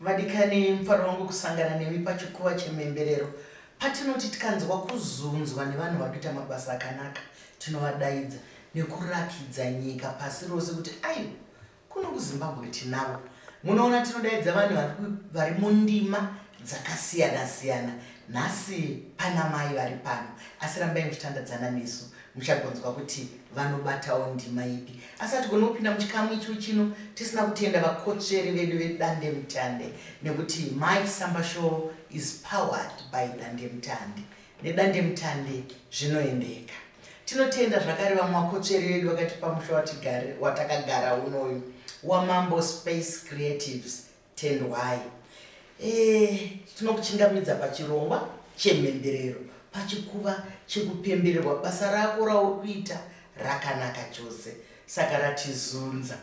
Vadikani, mufaro wangu kusangana nemi pachikuva chemhemberero. Patinoti tikanzwa kuzunzwa nevanhu vari kuita mabasa akanaka, tinovadaidza nekurakidza nyika pasi rose kuti aiwa, kuno kuZimbabwe tinavo. Munoona, tinodaidza vanhu vari ku, vari mundima dzakasiyana-siyana. Nhasi pana mai vari pano, asi rambai muchitandadzana nesu. muchagonzwa kuti vanobatawo ndima ipi asi hatigoni kupinda muchikamu icho chino tisina kutenda vakotsveri vedu vedande mutande nekuti my samba show is powered by dande mutande nedande mutande zvinoendeka tinotenda zvakare vamwe vakotsveri vedu vakatipa musha watakagara unoyu wamambo space creatives Tendwai. Eh, tinokuchingamidza pachirongwa chemhemberero pachikuva chekupembererwa basa rako rauri kuita rakanaka chose saka ratizunza.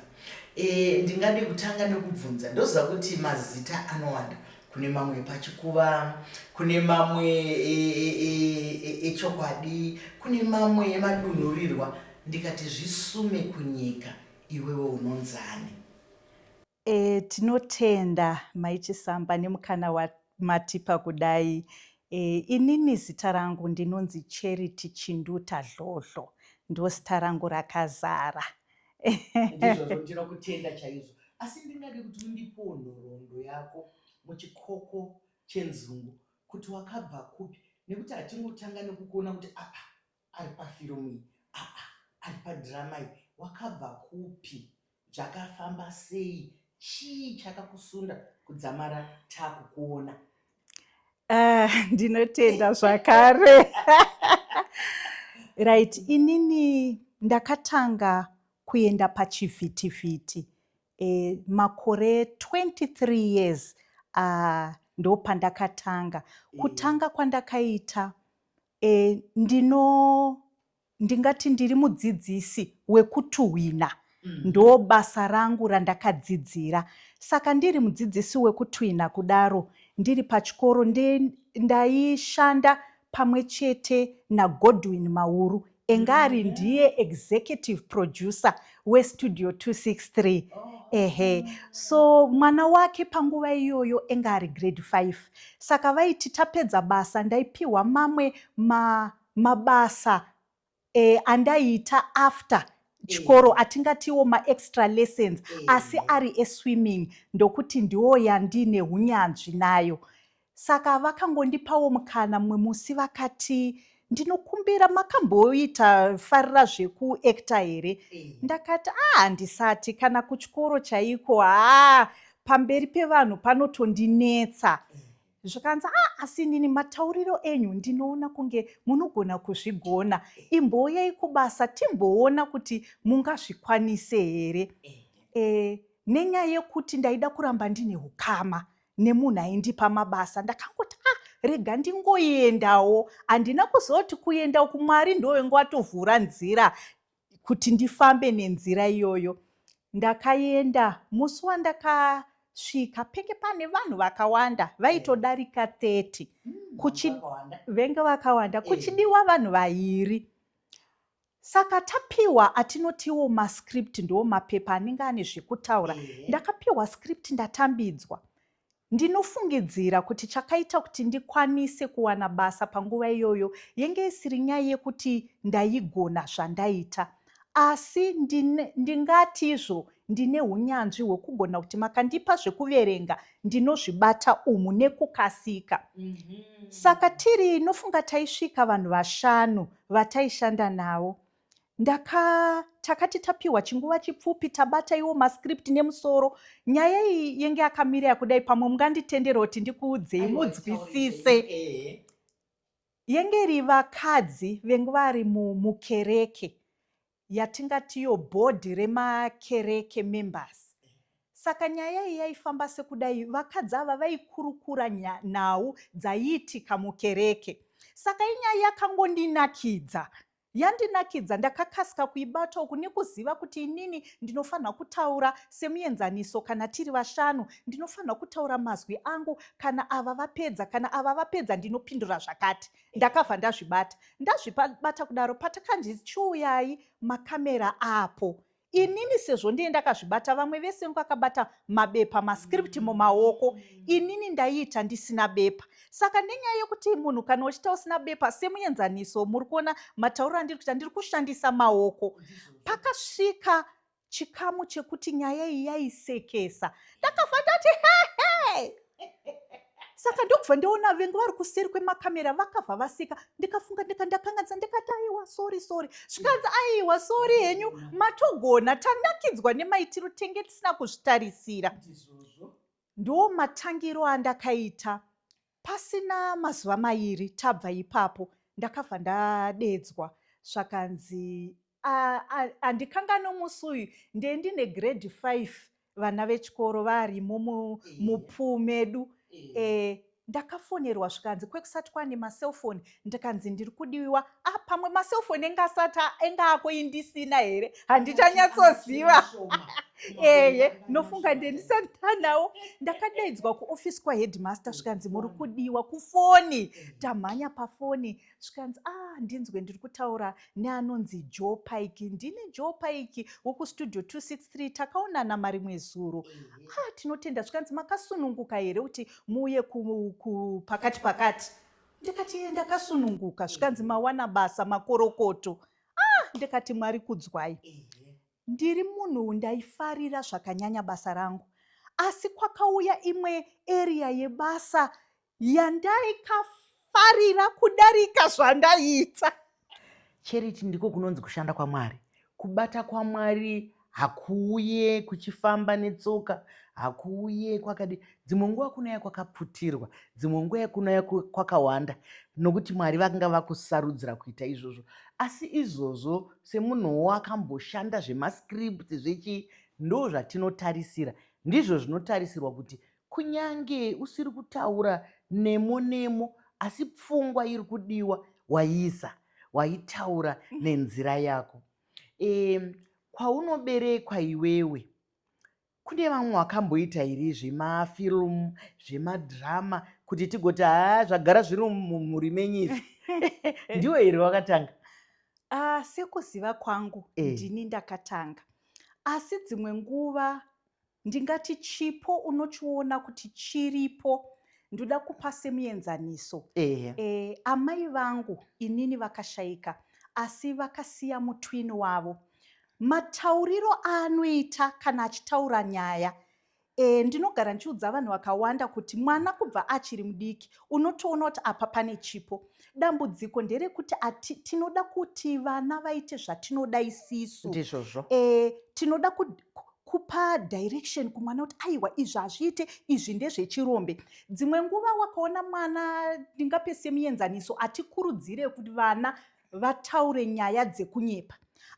Eh, ndingade kutanga nekubvunza ndoziva kuti mazita anowanda kune mamwe pachikuva kune mamwe echokwadi e, e, e, kune mamwe emadunhurirwa ndikati zvisume kunyika iwewe unonzani E, tinotenda mai Chisamba nemukana wamatipa kudai. E, inini zita rangu ndinonzi Charity Chinduta Dlodlo, ndoo zita rangu rakazara. Ndizvozvo ndinokutenda chaizvo asi ndingade kuti undipewo nhoroondo yako muchikoko chenzungu kuti wakabva kupi nekuti hatingotanga nekukuona kuti apa Ari pa film iyi aa ari pa drama iyi wakabva kupi zvakafamba sei chii chakakusunda kudzamara takukuona. Ah, ndinotenda zvakare right inini ndakatanga kuenda pachivhitivhiti e, makore 23 years uh, ndopandakatanga kutanga kwandakaita E, ndino ndingati ndiri mudzidzisi wekutuhwina mm. ndo basa rangu randakadzidzira saka ndiri mudzidzisi wekutwina kudaro ndiri pachikoro ndaishanda pamwe chete nagodwin mauru enga ari ndiye executive producer westudio 263 ehe so mwana wake panguva iyoyo enge ari grade 5 saka vaiti tapedza basa ndaipiwa mamwe ma, mabasa eh, andaiita after chikoro eh. atingatiwo maextra lessons eh. asi ari eswimming ndokuti ndiwo yandine unyanzvi nayo Saka vakangondipawo mukana mumwe musi vakati ndinokumbira makamboita farira zvekuacta here eh. ndakati a ah, handisati kana kuchikoro chaiko haa ah, pamberi pevanhu panotondinetsa eh. zvikanzi a ah, asi nini matauriro enyu ndinoona kunge munogona kuzvigona eh. imbouyai kubasa timboona kuti mungazvikwanise here e, nenyaya yekuti ndaida kuramba ndine ukama nemunhu aindipa mabasa ndakangoti a ah, rega ndingoendawo handina kuzoti kuenda uku mwari ndovenge watovhura nzira kuti ndifambe nenzira iyoyo ndakaenda musi wandaka svika penge pane vanhu vakawanda vaitodarika 30 hmm, venge vakawanda eh. kuchidiwa vanhu vairi Saka tapiwa atinotiwo mascript ndiwo mapepa anenge ane zvekutaura. Ndakapiwa script ndatambidzwa. Ndinofungidzira kuti chakaita kuti ndikwanise kuwana basa panguva iyoyo yenge isiri nyaya yekuti ndaigona zvandaita. Asi ndingati izvo ndine unyanzvi hwekugona kuti makandipa zvekuverenga ndinozvibata umu nekukasika. Mhm. Saka tiri inofunga taisvika vanhu vashanu. Mm -hmm vataishanda navo ndaka takati tapiwa chinguva chipfupi tabata iwo mascript nemusoro nyaya iyi yenge yakamira yakudai pamwe munganditendera kuti ndikuudzei mudzwisise eh. yenge iri vakadzi venge vari mukereke yatingatiyo bhodhi remakereke members saka nyaya iyi yaifamba sekudai vakadzi ava vaikurukura nhau dzaiitika mukereke saka inyaya yakangondinakidza yandinakidza ndakakasika kuibata uku nekuziva kuti inini ndinofanira kutaura semuenzaniso kana tiri vashanu ndinofanira kutaura mazwi angu kana ava vapedza kana ava vapedza ndinopindura zvakati ndakabva ndazvibata ndazvibata kudaro patakanzi chiuyai makamera apo inini sezvo ndiye ndakazvibata vamwe vese vakabata mabepa mascript mm. mumaoko inini ndaiita ndisina bepa saka nenyaya yekuti munhu kana uchita usina bepa semuenzaniso muri kuona matauriro andiri kuita ndiri kushandisa maoko pakasvika chikamu chekuti nyaya iyi yaisekesa ndakabva ndati hehe saka ndokubva ndoona vengu vari kuseri kwemakamera vakabva vaseka ndikafunga ndika ndakanganisa ndikati aiwa sori sori zvikanzi aiwa sori henyu matogona tanakidzwa nemaitiro tenge tisina kuzvitarisira ndoo matangiro andakaita Pasina mazuva mairi tabva ipapo ndakabva ndadeedzwa zvakanzi andikanga nomusi uyu ndee ndine grade five vana vechikoro varimo mupuu medu eh, ndakafonerwa zvikanzi kwekusati kwane macelfoni ndikanzi ndiri kudiwiwa ah pamwe maselfoni enge asati enge ako indisina here handichanyatsoziva ehe nofunga ndendisatanawo ndakadaidzwa kuofisi kwaheadmaster zvikanzi muri kudiwa kufoni tamhanya pafoni zvikanzi ah ndinzwe ndiri kutaura neanonzi joe pike ndini joe pike wokustudio 263 takaonana marimwe zuro ah tinotenda zvikanzi makasununguka here kuti muuye pakati pakati ndikati ndakasununguka zvikanzi mawana basa makorokoto ah ndikati mwari kudzwai ndiri munhu ndaifarira zvakanyanya basa rangu asi kwakauya imwe eriya yebasa yandaikafarira kudarika zvandaiita Charity ndiko kunonzi kushanda kwaMwari. Kubata kwaMwari hakuuye kuchifamba netsoka, hakuuye kwakadi. Dzimwe nguva kunouya kwakaputirwa, dzimwe nguva kunouya kwakawanda, nokuti Mwari vakanga vakusarudzira kuita izvozvo. Asi izvozvo semunhuwo akamboshanda zvemascript zvechi ndo zvatinotarisira, ndizvo zvinotarisirwa kuti Kunyange usiri kutaura nemo nemo asi pfungwa iri kudiwa waiisa, waitaura mm. nenzira yako. E, kwaunoberekwa iwewe kune vamwe vakamboita iri zvemafilmu zvemadrama kuti tigoti haa zvagara zviri mumhuri menyu izvi ndiwe here wakatanga uh, sekuziva kwangu e. ndini ndakatanga asi dzimwe nguva Ndingati chipo unochiona kuti chiripo ndoda kupa semuenzaniso ehe e, amai vangu inini vakashaika asi vakasiya mutwini wavo matauriro aanoita kana achitaura nyaya e, ndinogara ndichiudza vanhu vakawanda kuti mwana kubva achiri mudiki unotoona kuti apa pane chipo dambudziko nderekuti ati tinoda kuti vana vaite zvatinoda isisu ndizvozvo e, tinoda kupa direction kumwana kuti aiwa izvi hazviite izvi ndezvechirombe dzimwe nguva wakaona mwana ndingape semuenzaniso hatikurudzire kuti vana vataure nyaya dzekunyepa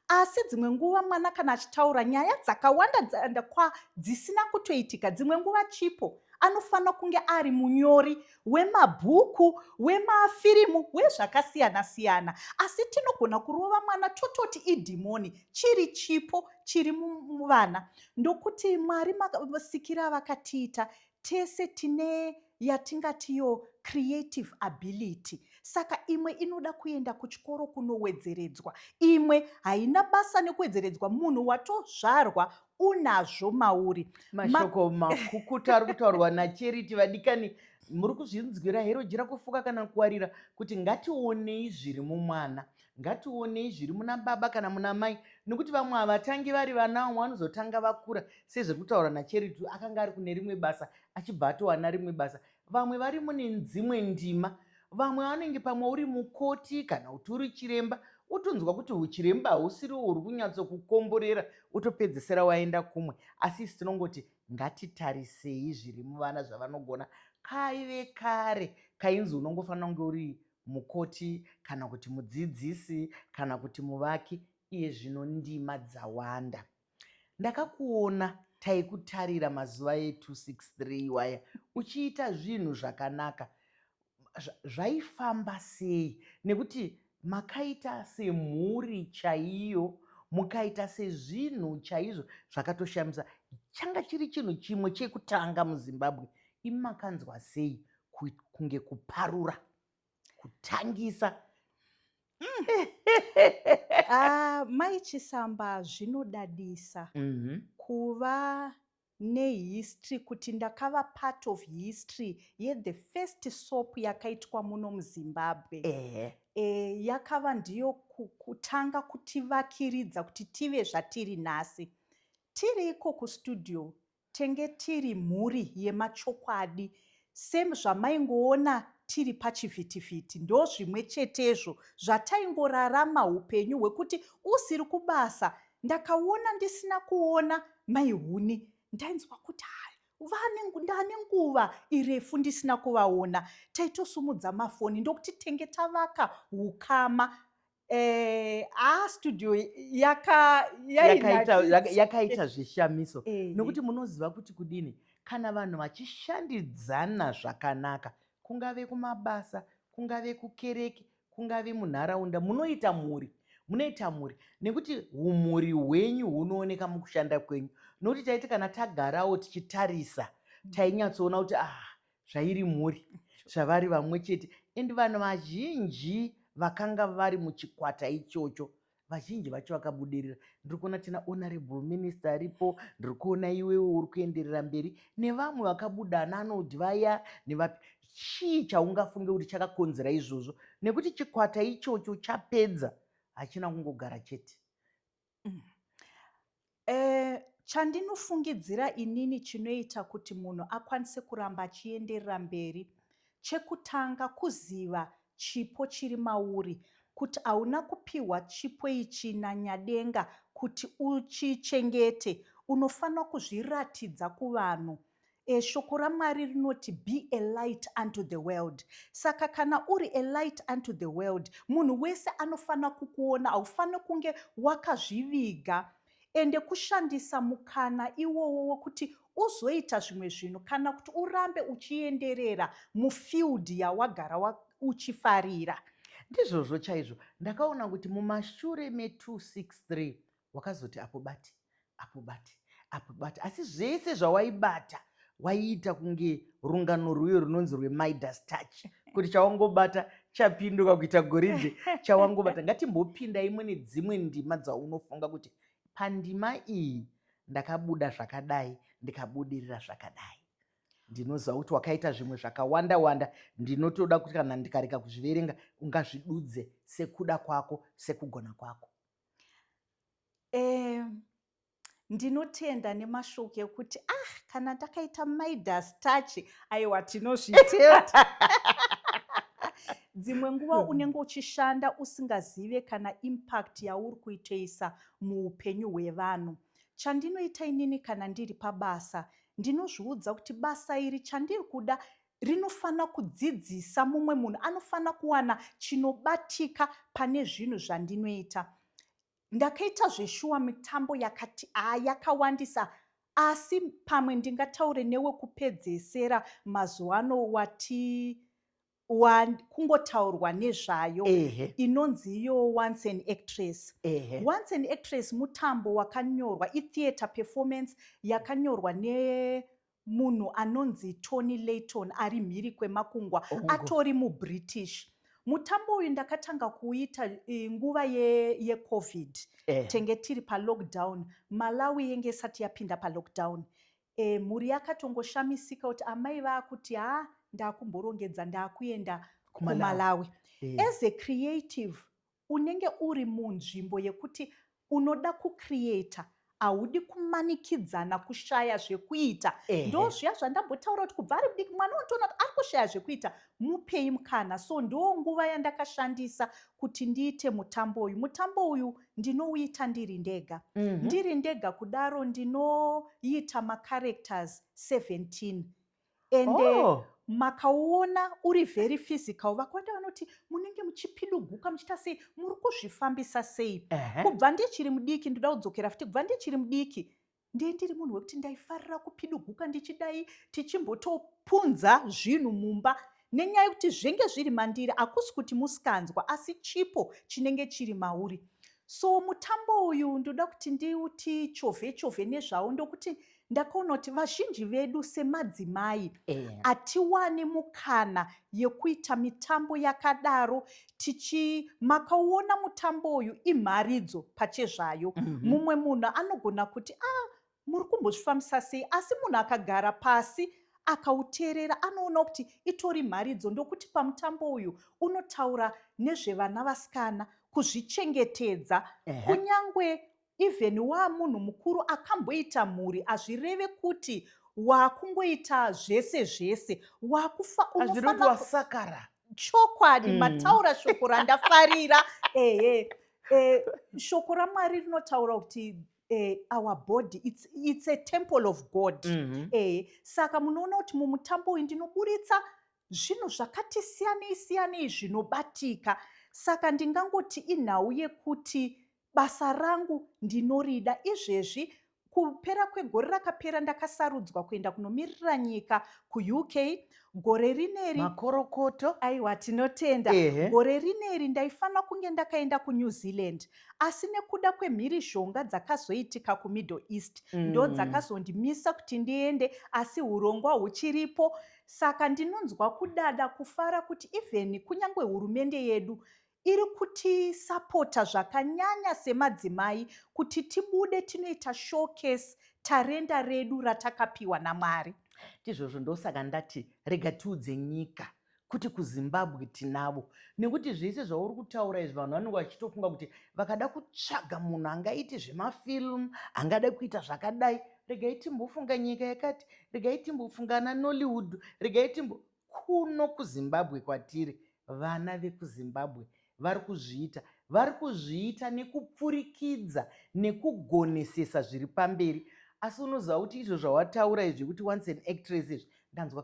asi dzimwe nguva mwana kana achitaura nyaya dzakawanda dzaenda kwa dzisina kutoitika dzimwe nguva chipo anofanira kunge ari munyori wemabhuku wemafirimu wezvakasiyana siyana asi tinogona kurova mwana tototi idhimoni chiri chipo chiri muvana ndokuti mwari masikira vakatiita tese tine yatingati yo creative ability saka imwe inoda kuenda kuchikoro kunowedzeredzwa imwe haina basa nekuwedzeredzwa munhu watozvarwa unazvo mauri mashoko makukuta ari kutaurwa nacheriti vadikani muri kuzvinzwira here ujira kufuka kana kuwarira kuti ngationei zviri mumwana ngationei zviri muna baba kana muna mai nekuti vamwe havatangi vari vana vamwe vanozotanga vakura sezviri kutaura nacheriti akanga ari kune rimwe basa achibva atowana rimwe basa vamwe vari mune dzimwe ndima vamwe vanenge pamwe uri mukoti kana kuti uri chiremba utonzwa kuti uchiremba hausiri uri kunyatsokukomborera utopedzesera waenda kumwe asi isi tinongoti ngatitarisei zviri muvana zvavanogona kaive kare kainzi unongofanira kunge uri mukoti kana kuti mudzidzisi kana kuti muvaki iye zvino ndima dzawanda Ndakakuona taikutarira mazuva e 263 iwaya uchiita zvinhu zvakanaka zvaifamba sei nekuti makaita semhuri chaiyo mukaita sezvinhu chaizvo zvakatoshamisa changa chiri chinhu chimwe chekutanga muzimbabwe imi makanzwa sei kunge kuparura kutangisa mm. ah, mai chisamba zvinodadisa mm -hmm. kuva nehistory kuti ndakava part of history yethe first soap yakaitwa muno muzimbabwe eh. Eh, yakava ndiyo kutanga kutivakiridza kuti tive zvatiri nhasi tiri iko kustudio Tenge tiri mhuri yemachokwadi sezvamaingoona tiri pachivhitivhiti. Ndozvimwe chetezvo zvataingorarama hupenyu hwekuti usiri kubasa ndakaona ndisina kuona mai Huni ndainzwa kuti hai ndane nguva irefu ndisina kuvaona taitosumudza mafoni ndokuti tenge tavaka ukama Eh, ah, studio yaka yakaita yaka, yaka zvishamiso eh, nokuti munoziva kuti kudini kana vanhu vachishandidzana zvakanaka kungave kumabasa kungave kukereke kungave munharaunda munoita mhuri munoita mhuri nekuti umhuri hwenyu hunooneka mukushanda kwenyu nokuti taiti kana tagarawo tichitarisa mm. tainyatsoona kuti ah zvairi mhuri zvavari vamwe chete and vanhu vazhinji vakanga vari muchikwata ichocho vazhinji vacho vakabudirira ndiri kuona tina honorable minister aripo ndiri kuona iwewe uri kuenderera mberi nevamwe vakabuda ananod vaya nevapi chii chaungafunge kuti chakakonzera izvozvo nekuti chikwata ichocho chapedza hachina kungogara chete Mm. Eh, chandinofungidzira inini chinoita kuti munhu akwanise kuramba achienderera mberi chekutanga kuziva chipo chiri mauri kuti hauna kupiwa chipo ichi nanyadenga kuti uchichengete unofanira kuzviratidza kuvanhu E, shoko raMwari rinoti be a light unto the world. Saka kana uri a light unto the world, munhu wese anofanira kukuona. Haufaniri kunge wakazviviga ende kushandisa mukana iwowo wokuti uzoita zvimwe zvinhu kana kuti urambe uchienderera mufield yawagara wa, uchifarira. Ndizvozvo chaizvo. Ndakaona kuti mumashure me 263 wakazoti apo bati apo bati apo bati asi zvese zvawaibata waiita kunge rungano rwuyo runonzi rwemidas touch kuti chawangobata chapinduka kuita goridhe chawangobata ngatimbopinda imwe nedzimwe ndima dzaunofunga kuti pandima iyi ndakabuda zvakadai ndikabudirira zvakadai ndinoziva kuti wakaita zvimwe zvakawanda wanda ndinotoda kuti kana ndikareka kuzviverenga ungazvidudze sekuda kwako sekugona kwako Eh, ndinotenda nemashoko ekuti ah kana takaita midas touch aiwa tinozviteta dzimwe nguva hmm. unenge uchishanda usingazive kana impact yauri kuitoisa muupenyu hwevanhu chandinoita inini kana ndiri pabasa ndinozviudza kuti basa iri chandiri kuda rinofanira kudzidzisa mumwe munhu anofanira kuwana chinobatika pane zvinhu zvandinoita ndakaita zveshuwa mitambo yakati a yakawandisa asi pamwe ndingataure newekupedzesera mazuva ano wati kungotaurwa nezvayo inonzi iyo once an actress once an actress mutambo wakanyorwa itheatre performance yakanyorwa ne Munhu anonzi Tony Layton ari mhiri kwemakungwa Ongo. atori muBritish. Mutambo uyu ndakatanga kuuita eh, nguva yeCovid ye eh. tenge tiri palockdown. Malawi yenge isati yapinda palockdown. Eh, mhuri yakatongoshamisika kuti amai vaakuti haa ah, ndakumborongedza ndakuenda kumalawi, kumalawi. Eh. as a creative Unenge uri munzvimbo yekuti unoda kucreator haudi kumanikidzana kushaya zvekuita ndo zviya zvandambotaura kuti kubva ari mudiki mwana unotoona kuti ari kushaya zvekuita mupei mukana so ndo nguva yandakashandisa kuti ndiite mutambo uyu mutambo uyu ndinouita ndiri ndega mm -hmm. ndiri ndega kudaro ndinoita macarectors 17 ende oh. makaona uri very physical vakwanda vanoti munenge muchipiduguka muchiita sei muri kuzvifambisa sei uh -huh. kubva ndichiri mudiki ndoda kudzokera futi kubva ndichiri mudiki ndiye ndiri munhu wekuti ndaifarira kupiduguka ndichidai tichimbotopunza zvinhu mumba Nenyaya yekuti zvenge zviri mandiri akusi kuti musikanzwa asi chipo chinenge chiri mauri. So mutambo uyu ndoda kuti ndiuti chove chove nezvawo ndokuti ndakaona kuti vazhinji vedu semadzimai yeah. atiwani mukana yekuita mitambo yakadaro tichi makauona mutambo uyu imharidzo pachezvayo mm -hmm. mumwe munhu anogona kuti ah muri kumbozvifambisa sei asi munhu akagara pasi akauteerera anoona kuti itori mharidzo ndokuti pamutambo uyu unotaura nezvevana vasikana kuzvichengetedza kunyange even waamunhu mukuru akamboita mhuri hazvireve kuti waakungoita zvese zvese waakufa unofanasakara chokwadi mm. mataura shoko randafarira ehe eh, shoko ramwari rinotaura kuti eh, our body it's, it's a temple of god mm -hmm. eh, saka munoona kuti mumutambo uyu ndinoburitsa zvinhu zvakati siyanei siyanei zvinobatika saka ndingangoti inhau yekuti basa rangu ndinorida izvezvi kupera kwegore rakapera ndakasarudzwa kuenda kunomirira nyika kuuk gore rineri makorokoto aiwa tinotenda Ehe. gore rineri ndaifanira kunge ndakaenda kunew zealand asi nekuda kwemhirizhonga dzakazoitika kumiddle east mm. ndo dzakazondimisa kuti ndiende asi urongwa huchiripo saka ndinonzwa kudada kufara kuti even kunyange hurumende yedu iri kutisapota zvakanyanya semadzimai kuti tibude tinoita showcase tarenda redu ratakapiwa namwari ndizvozvo ndosaka ndati rega tiudze nyika kuti kuzimbabwe tinavo nekuti zvese zvauri kutaura izvi vanhu vanenge vachitofunga kuti vakada kutsvaga munhu angaiti zvemafilm angada kuita zvakadai regai timbofunga nyika yakati regai timbofunga ana nollywood regai timbo kuno kuzimbabwe kwatiri vana vekuzimbabwe vari kuzviita vari kuzviita nekupfurikidza nekugonesesa zviri pamberi asi unoziva kuti izvo zvawataura izvi kuti once an actress izvi ndanzwa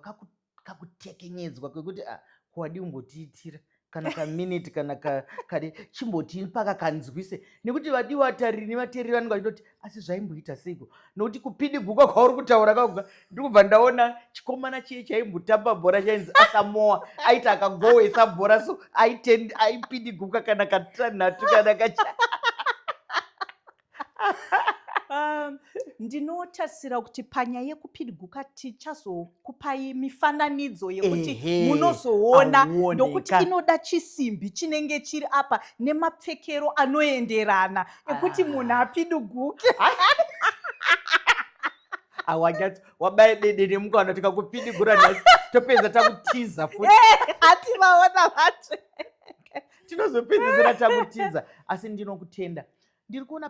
kakutekenyedzwa kwekuti a ah, kuwadi umbotiitira kana kaminiti kana kadi chimbotii paka kanzwise nekuti vadii vatariri nevateereri vanenge vachitoti asi zvaimboita seiko nokuti kupidiguka kwauri kutaura kakuga ndiri kubva ndaona chikomana chiye chaimbotamba bhora chainzi asamoa aiti akagowesa bhora so aipidiguka kana katanhatu kana kacha Um, ndinotarisira kuti panya yekupidiguka tichazokupai mifananidzo yekuti munozoona ndokuti inoda chisimbi chinenge chiri apa nemapfekero anoenderana ekuti ah. munhu apidiguke awanyatso wabaye dede nemukana tikakupidigura nhasi topedza takutiza futi eh, hati vaona vatsve tinozopedzisira takutiza asi ndinokutenda Ndiri kuona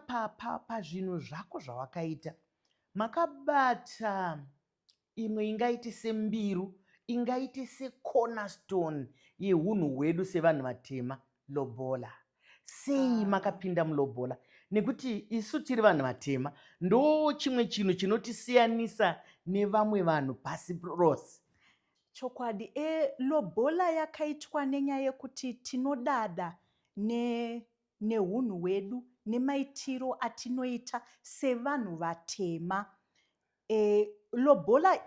pazvinhu zvako zvawakaita makabata imwe ingaite sembiru ingaite secornerstone yeunhu hwedu sevanhu vatema lobola sei ah. makapinda mulobola nekuti isu tiri vanhu vatema ndo chimwe chinhu chinotisiyanisa nevamwe vanhu pasi rose chokwadi e lobola yakaitwa nenyaya yekuti tinodada ne nehunhu hwedu nemaitiro atinoita sevanhu vatema. E, lobola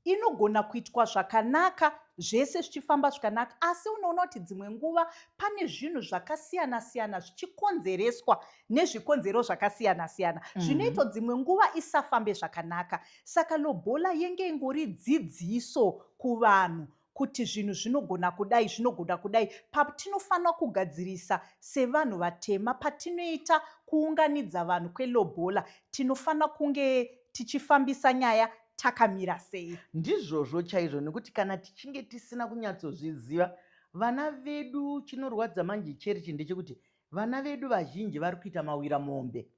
inogona kuitwa zvakanaka zvese zvichifamba zvakanaka asi unoona kuti dzimwe nguva pane zvinhu zvakasiyana siyana zvichikonzereswa nezvikonzero zvakasiyana siyana mm. zvinoita dzimwe nguva isafambe zvakanaka saka lobola yenge ingori dzidziso kuvanhu kuti zvinhu zvinogona kudai zvinogona kudai patinofanira kugadzirisa sevanhu vatema patinoita kuunganidza vanhu kwelobola tinofanira kunge tichifambisa nyaya takamira sei ndizvozvo chaizvo nekuti kana tichinge tisina kunyatsozviziva vana vedu chinorwadza manje cherichi ndechekuti vana vedu vazhinji vari kuita mawira mombe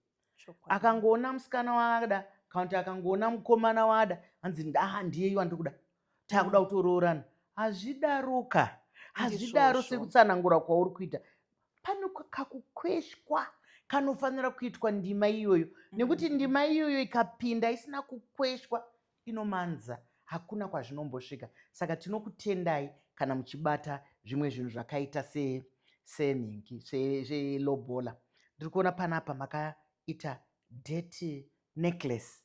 akangoona musikana waada kana kuti akangoona mukomana waada hanzi ndaa ndiyeyu andiri kuda takuda mm. kutoroorana hazvidaroka hazvidaro sekutsanangura kwauri kuita pane kakukweshwa kanofanira kuitwa ndima iyoyo mm. nekuti ndima iyoyo ikapinda isina kukweshwa inomanza hakuna kwazvinombosvika saka tinokutendai kana muchibata zvimwe zvinhu zvakaita senhingi selobola ndiri kuona panapa makaita deti necklace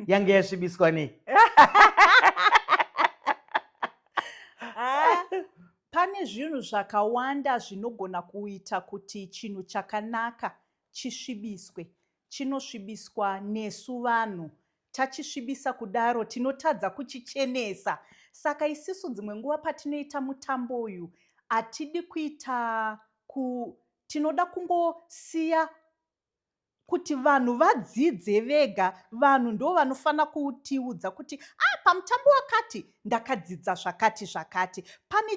yange yasvibiswa nei ah, pane zvinhu zvakawanda zvinogona kuita kuti chinhu chakanaka chisvibiswe chinosvibiswa nesu vanhu Tachisvibisa kudaro tinotadza kuchichenesa. Saka isisu dzimwe nguva patinoita mutambo uyu hatidi kuita ku tinoda kungosiya kuti vanhu vadzidze vega vanhu ndo vanofanira kutiudza kuti a ah, pamutambo wakati ndakadzidza zvakati zvakati pane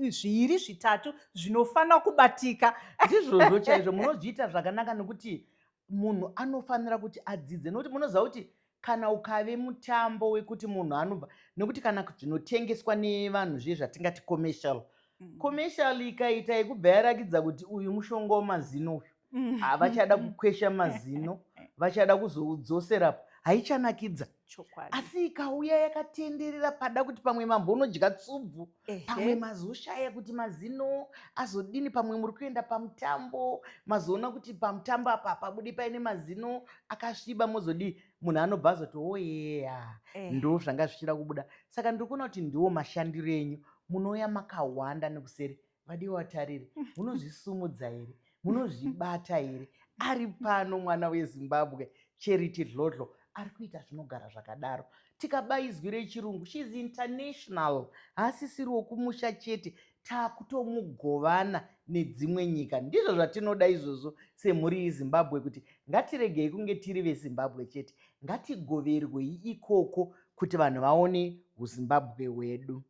zviiri zvitatu zvinofanira kubatika ndizvozvo chaizvo munozviita zvakanaka nekuti munhu anofanira kuti adzidze nokuti munoziva kuti kana ukave mutambo wekuti munhu anobva nekuti kana zvinotengeswa nevanhu zviye zvatingati commercial mm. commercial ikaita yekubva yarakidza kuti uyu mushonga wemazino uyu mm. havachada kukwesha mazino vachada kuzoudzosera haichanakidzaa chokwadi asi ikauya yakatenderera pada kuti pamwe mambo unodya tsubvu pamwe mazoshaya kuti mazino azodini pamwe muri kuenda pamutambo mazoona kuti pamutambo apa pabude paine mazino akasviba mozodii munhu anobva azoti oyeya oh, eh. ndo zvanga zvichida kubuda saka ndiri kuona kuti ndiwo mashandiro enyu munouya makawanda nekuseri madiwa watariri munozvisumudza here munozvibata here ari pano mwana wezimbabwe charity dlodlo ari kuita zvinogara zvakadaro tikaba izwi rechirungu sheis international haasisiri wokumusha chete taakutomugovana nedzimwe nyika ndizvo zvatinoda izvozvo semhuri yezimbabwe kuti ngatiregei kunge tiri vezimbabwe chete ngatigoverwei ikoko kuti vanhu vaone uzimbabwe hwedu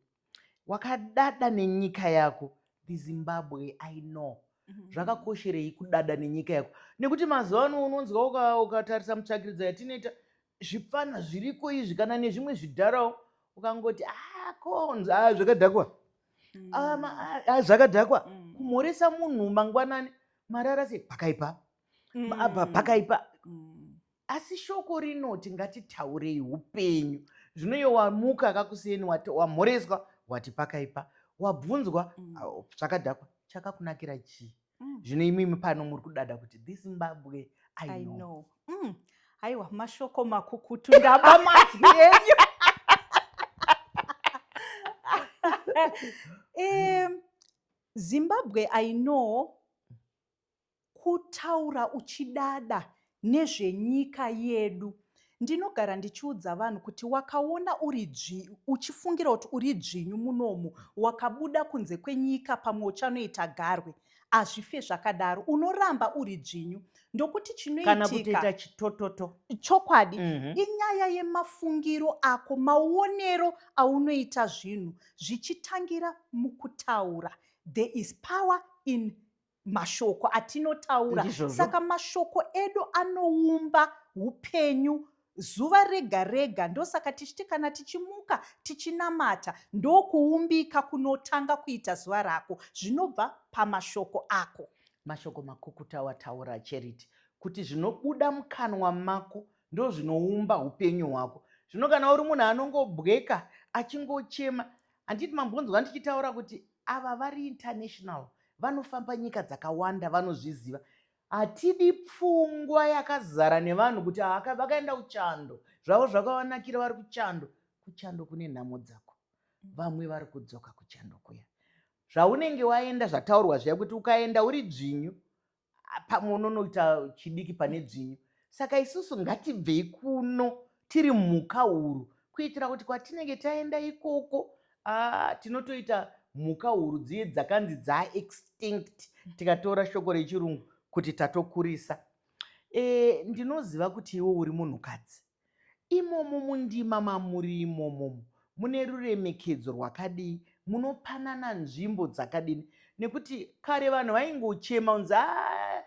Wakadada nenyika yako the Zimbabwe I know mhm. zvakakosherei kudada nenyika yako nekuti mazuva ano unonzwa ukatarisa mutsvakiridzo yatinoita zvipfana zviriko izvi kana nezvimwe zvidharawo ukangoti ah, konzi ah, zvakadhakwa mm. ah, zvakadhakwa mm. kumhoresa munhu mangwanani marara sei pakaipa mm. apa pakaipa asi shoko rinoti ngatitaurei upenyu zvino iyo wamuka akakusiyeni wamhoreswa wati pakaipa wabvunzwa mm. chakadhakwa chakakunakira chii mm. zvino imimi pano muri kudada kuti this mbabwe i know mm. aiwa mashoko makukutu ndaba mazwi enyu um, zimbabwe i know Kutaura uchidada nezvenyika yedu. Ndinogara ndichiudza vanhu kuti wakaona uri dzvi uchifungira kuti uri dzvinyu munomu wakabuda kunze kwenyika pamwe uchanoita garwe. Hazvife zvakadaro unoramba uri dzvinyu ndokuti Kana kutoita chinoitika chitototo. chokwadi Mhm. inyaya yemafungiro ako maonero aunoita zvinhu zvichitangira mukutaura there is power in mashoko atinotaura saka mashoko edu anoumba upenyu zuva rega rega ndosaka tichiti kana tichimuka tichinamata ndokuumbika kunotanga kuita zuva rako zvinobva pamashoko ako mashoko makukuta wataura charity kuti zvinobuda mukanwa mako ndozvinoumba upenyu hwako zvino kana uri munhu anongobweka achingochema handiti mambonzwa ndichitaura kuti Ava vari international vanofamba nyika dzakawanda vanozviziva hatidi pfungwa yakazara nevanhu kuti vakaenda kuchando zvavo zvakavanakira vari kuchando kuchando kune nhamo dzako vamwe vari kudzoka kuchando kuya zvaunenge waenda zvataurwa zviya kuti ukaenda uri dzvinyu pamwe unonoita chidiki pane dzvinyu saka isusu ngatibvei kuno tiri mhuka huru kuitira kuti kwatinenge taenda ikoko ah, tinotoita mhuka huru dziye dzakanzi dzaextinct tikatora shoko rechirungu kuti tatokurisa e, ndinoziva kuti iwe uri munhukadzi Imomo mundima mamuri imomo mune ruremekedzo rwakadii, munopanana nzvimbo dzakadini nekuti kare vanhu vaingochema kunzi haa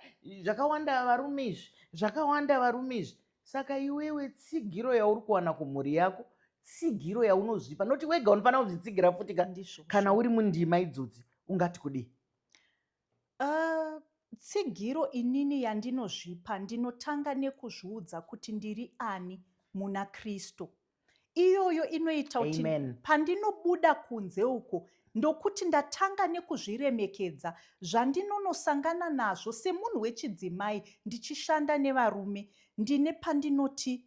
zvakawanda varume izvi, zvakawanda varume izvi. Saka iwewe tsigiro yauri kuwana kumhuri yako tsigiro yaunozvipa noti wega unofanira kuzvitsigira futi ka kana uri mundima idzodzi ungati kudii? Uh, tsigiro inini yandinozvipa ndinotanga nekuzviudza kuti ndiri ani muna kristu iyoyo inoita kuti pandinobuda kunze uko ndokuti ndatanga nekuzviremekedza zvandinonosangana nazvo semunhu wechidzimai ndichishanda nevarume ndine pandinoti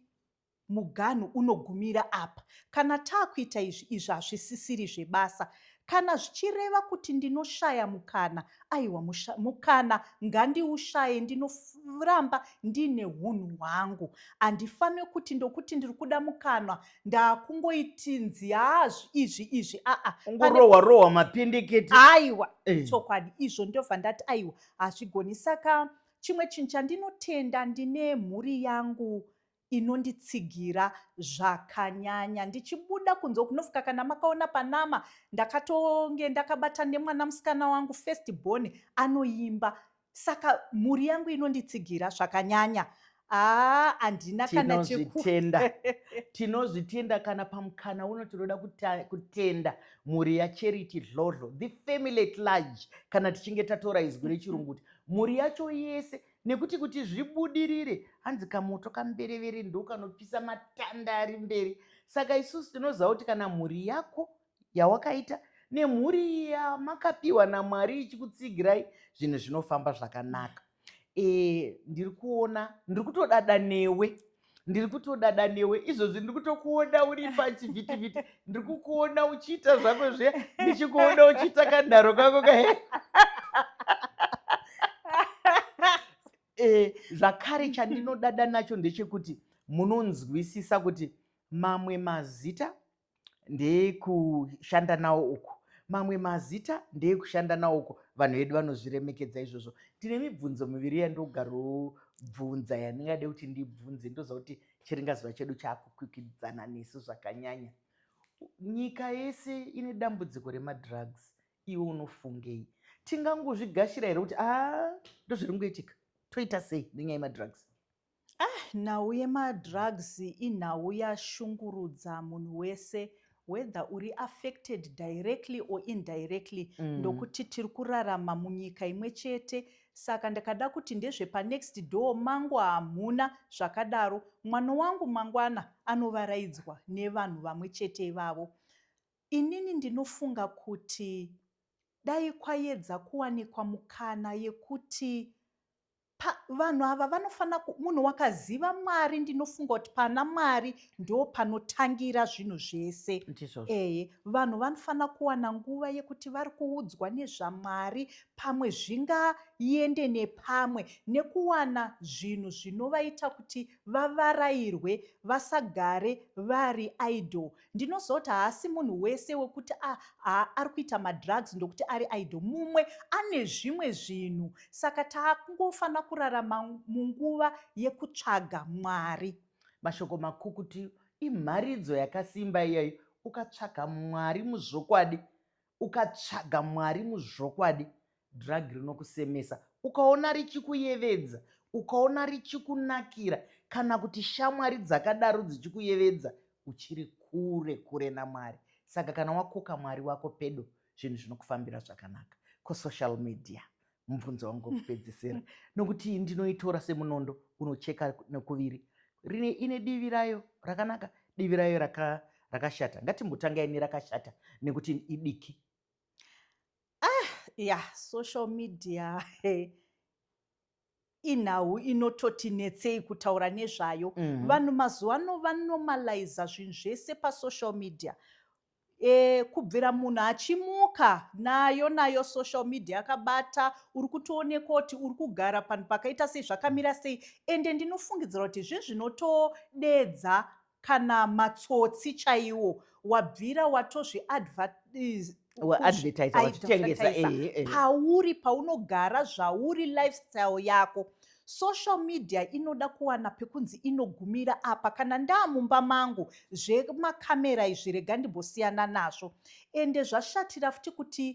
muganhu unogumira apa kana taakuita izvi izvi hazvisisiri zvebasa kana zvichireva kuti ndinoshaya mukana aiwa mukana ngandiushaye ndinoramba ndiine hunhu hwangu handifanire kuti ndokuti ndiri kuda mukanwa ndaakungoitinzi haazvi izvi izvi aa ungorohwa rohwa mapindikiti aiwa eh. chokwadi izvo ndobva ndati aiwa hazvigoni saka chimwe chinhu chandinotenda ndine mhuri yangu inonditsigira zvakanyanya ndichibuda kunze uku nofuka kana makaona panama ndakatonge ndakabata nemwana musikana wangu first born anoimba saka mhuri yangu inonditsigira zvakanyanya aa handina kana chekutenda tinozvitenda kana pamukana uno tinoda kutenda mhuri yacharity dlodlo the family at large kana tichinge tatora izwi rechirungu kuti mhuri yacho yese nekuti kuti zvibudirire hanzi kamoto kamberevere ndokanopisa matanda ari mberi saka isusu tinoziva kuti kana mhuri yako yawakaita nemhuri yamakapiwa namwari ichikutsigirai zvinhu zvinofamba zvakanaka e, ndiri kuona ndiri kutodada newe ndiri kutodada newe izvozvi ndiri kutokuona uri pachivhitivhiti ndiri kukuona uchiita zvako zviya ndichikuona uchiita kanharo kako ka eh, zvakare chandinodada nacho ndechekuti munonzwisisa kuti mamwe mazita ndeyekushanda nawo uku mamwe mazita ndeyekushanda nawo uku vanhu vedu vanozviremekedza izvozvo ndine mibvunzo miviri yandogarobvunza yandingade kuti ndibvunze ndoziva kuti chiringazuva chedu chaakukwikwidzana nesu zvakanyanya nyika yese ine dambudziko remadrugs iwe unofungei tingangozvigashira here kuti a ah, ndozviri ngoitika toita sei nenyaya yemadrugs Ah nhau yemadrugs inhau yashungurudza munhu wese whether uri affected directly or indirectly mm. ndokuti tiri kurarama munyika imwe chete saka ndakada kuti ndezvepanext door mangu hamuna zvakadaro mwana wangu mangwana anovaraidzwa nevanhu vamwe chete ivavo inini ndinofunga kuti dai kwayedza kuwanikwa mukana yekuti Pa, vanhu ava vanofanira munhu wakaziva mwari ndinofunga kuti pana mwari ndo panotangira zvinhu zvese ee vanhu vanofanira kuwana nguva yekuti vari kuudzwa nezvamwari pamwe zvingaende nepamwe nekuwana zvinhu zvinovaita kuti vavarairwe vasagare vari idle Ndinozoti haasi munhu wese wekuti ah, ah, ari kuita madrugs ndokuti ari idol. Mumwe ane zvimwe zvinhu, saka taakungofanira kurarama munguva yekutsvaga Mwari. Mashoko makukutu imharidzo yakasimba iyayo. Ukatsvaga Mwari muzvokwadi, Ukatsvaga Mwari muzvokwadi, drug rinokusemesa. Ukaona richikuyevedza, ukaona richikunakira kana kuti shamwari dzakadaro dzichikuyevedza, uchiri kure kure naMwari. Saka kana wakoka Mwari wako pedo, zvinhu zvinokufambira zvakanaka. Kusocial media mubvunzo wangu wekupedzisira nokuti ndinoitora semunondo unocheka nekuviri rine ine divi rayo rakanaka divi rayo raka, rakashata ngatimbotangai nerakashata nekuti idiki ah ya social media hey inhau inototi netsei kutaura nezvayo mm -hmm. vanhu mazuva ano vanomaliza zvinhu zvese pasocial media e, kubvira munhu achimuka nayo nayo social media akabata uri kutoonekwa kuti uri kugara panhu pakaita sei zvakamira sei ende ndinofungidzira kuti zvezvinotodedza kana matsotsi chaiwo wabvira watozviadvertise pauri paunogara zvauri lifestyle yako Social media inoda kuwana pekunzi inogumira apa kana ndaamumba mangu zvemakamera izvi rega ndimbosiyana nazvo ende zvashatira futi kuti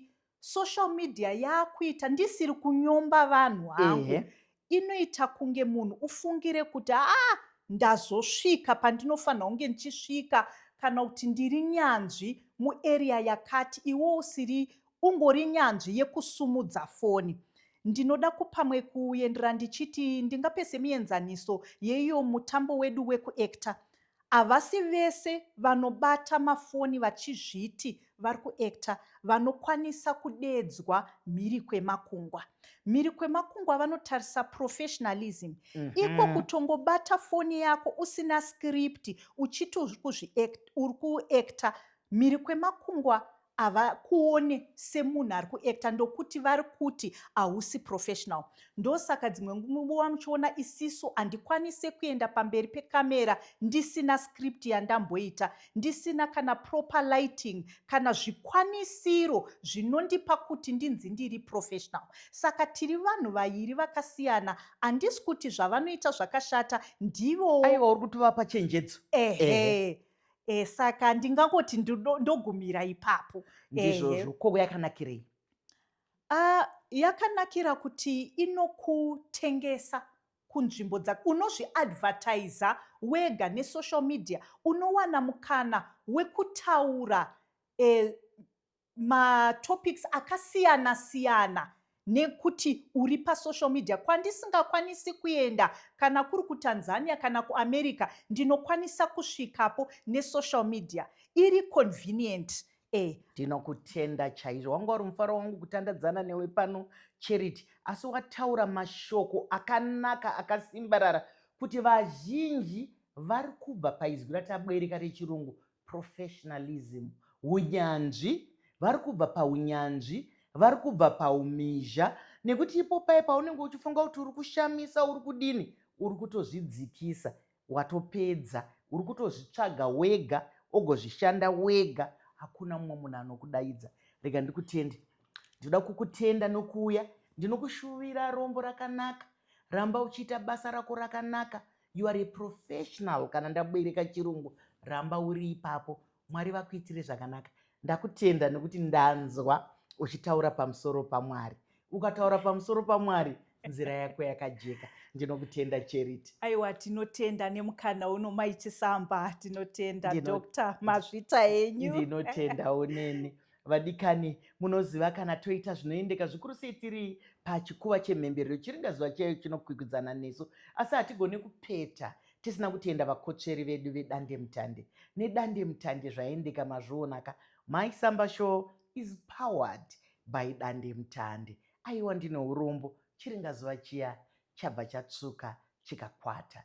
social media yaakuita ndisiri kunyomba vanhu hangu inoita kunge munhu ufungire kuti aa ah, ndazosvika pandinofanira kunge ndichisvika kana kuti ndiri nyanzvi muarea yakati iwo usiri ungori nyanzvi yekusumudza foni ndinoda kupamwe kuendera ndichiti ndingape semienzaniso yeiyo mutambo wedu wekuekta havasi vese vanobata mafoni vachizviti vari kuekta vanokwanisa kudeedzwa mhiri kwemakungwa mhiri kwemakungwa vanotarisa professionalism mm -hmm. iko kutongobata foni yako usina script uchiti uri kuekta mhiri kwemakungwa havakuone semunhu ari kuacta ndokuti vari kuti hausi professional ndosaka dzimwe nguva muchiona isisu handikwanise kuenda pamberi pekamera ndisina script yandamboita ndisina kana proper lighting kana zvikwanisiro zvinondipa kuti ndinzi ndiri professional saka tiri vanhu vairi vakasiyana handisi kuti zvavanoita zvakashata ndivowo aiwa uri kuti vapa chenjedzo ehe eh. e, saka ndingangoti ndogumira ipapo ndizvozvo ko yakanakirei uh, yakanakira kuti inokutengesa kunzvimbo dzako unozviadvertiza wega nesocial media unowana mukana wekutaura e, matopics akasiyana siyana nekuti uri pasocial media kwandisingakwanisi kuenda kana kuri kutanzania kana kuamerica ndinokwanisa kusvikapo nesocial media iri convenient e ndinokutenda chaizvo wanga uri mufaro wangu kutandadzana newe pano charity asi wataura mashoko akanaka akasimbarara kuti vazhinji vari kubva paizwi ratabwereka rechirungu professionalism hunyanzvi vari kubva paunyanzvi vari kubva paumizha nekuti ipo paye paunenge uchifunga kuti uri kushamisa uri kudini uri kutozvidzikisa watopedza uri kutozvitsvaga wega ogozvishanda wega hakuna mumwe munhu anokudaidza rega ndikutende ndinoda kukutenda nokuuya ndinokushuvira rombo rakanaka ramba uchiita basa rako rakanaka you are a professional kana ndabereka chirungu ramba uri ipapo mwari vakuitire zvakanaka ndakutenda nekuti ndanzwa uchitaura pamusoro pamwari ukataura pamusoro pamwari nzira yako yakajeka ndinokutenda charity aiwa tinotenda nemukana uno mai chisamba tinotenda dr mazvita enyu ndinotenda uneni Vadikani, munoziva kana toita zvinoendeka zvikuru sei tiri pachikuva chemhemberero chiringazuva chaiyo chinokwikwidzana nesu, asi hatigone kupeta tisina kutenda vakotsveri vedu vedandemutande. Nedandemutande zvaendeka mazvionaka, Mai Samba Show is powered by dandemutande. Aiwa ndine urombo, chiringazuva chiya chabva chatsvuka chikakwata.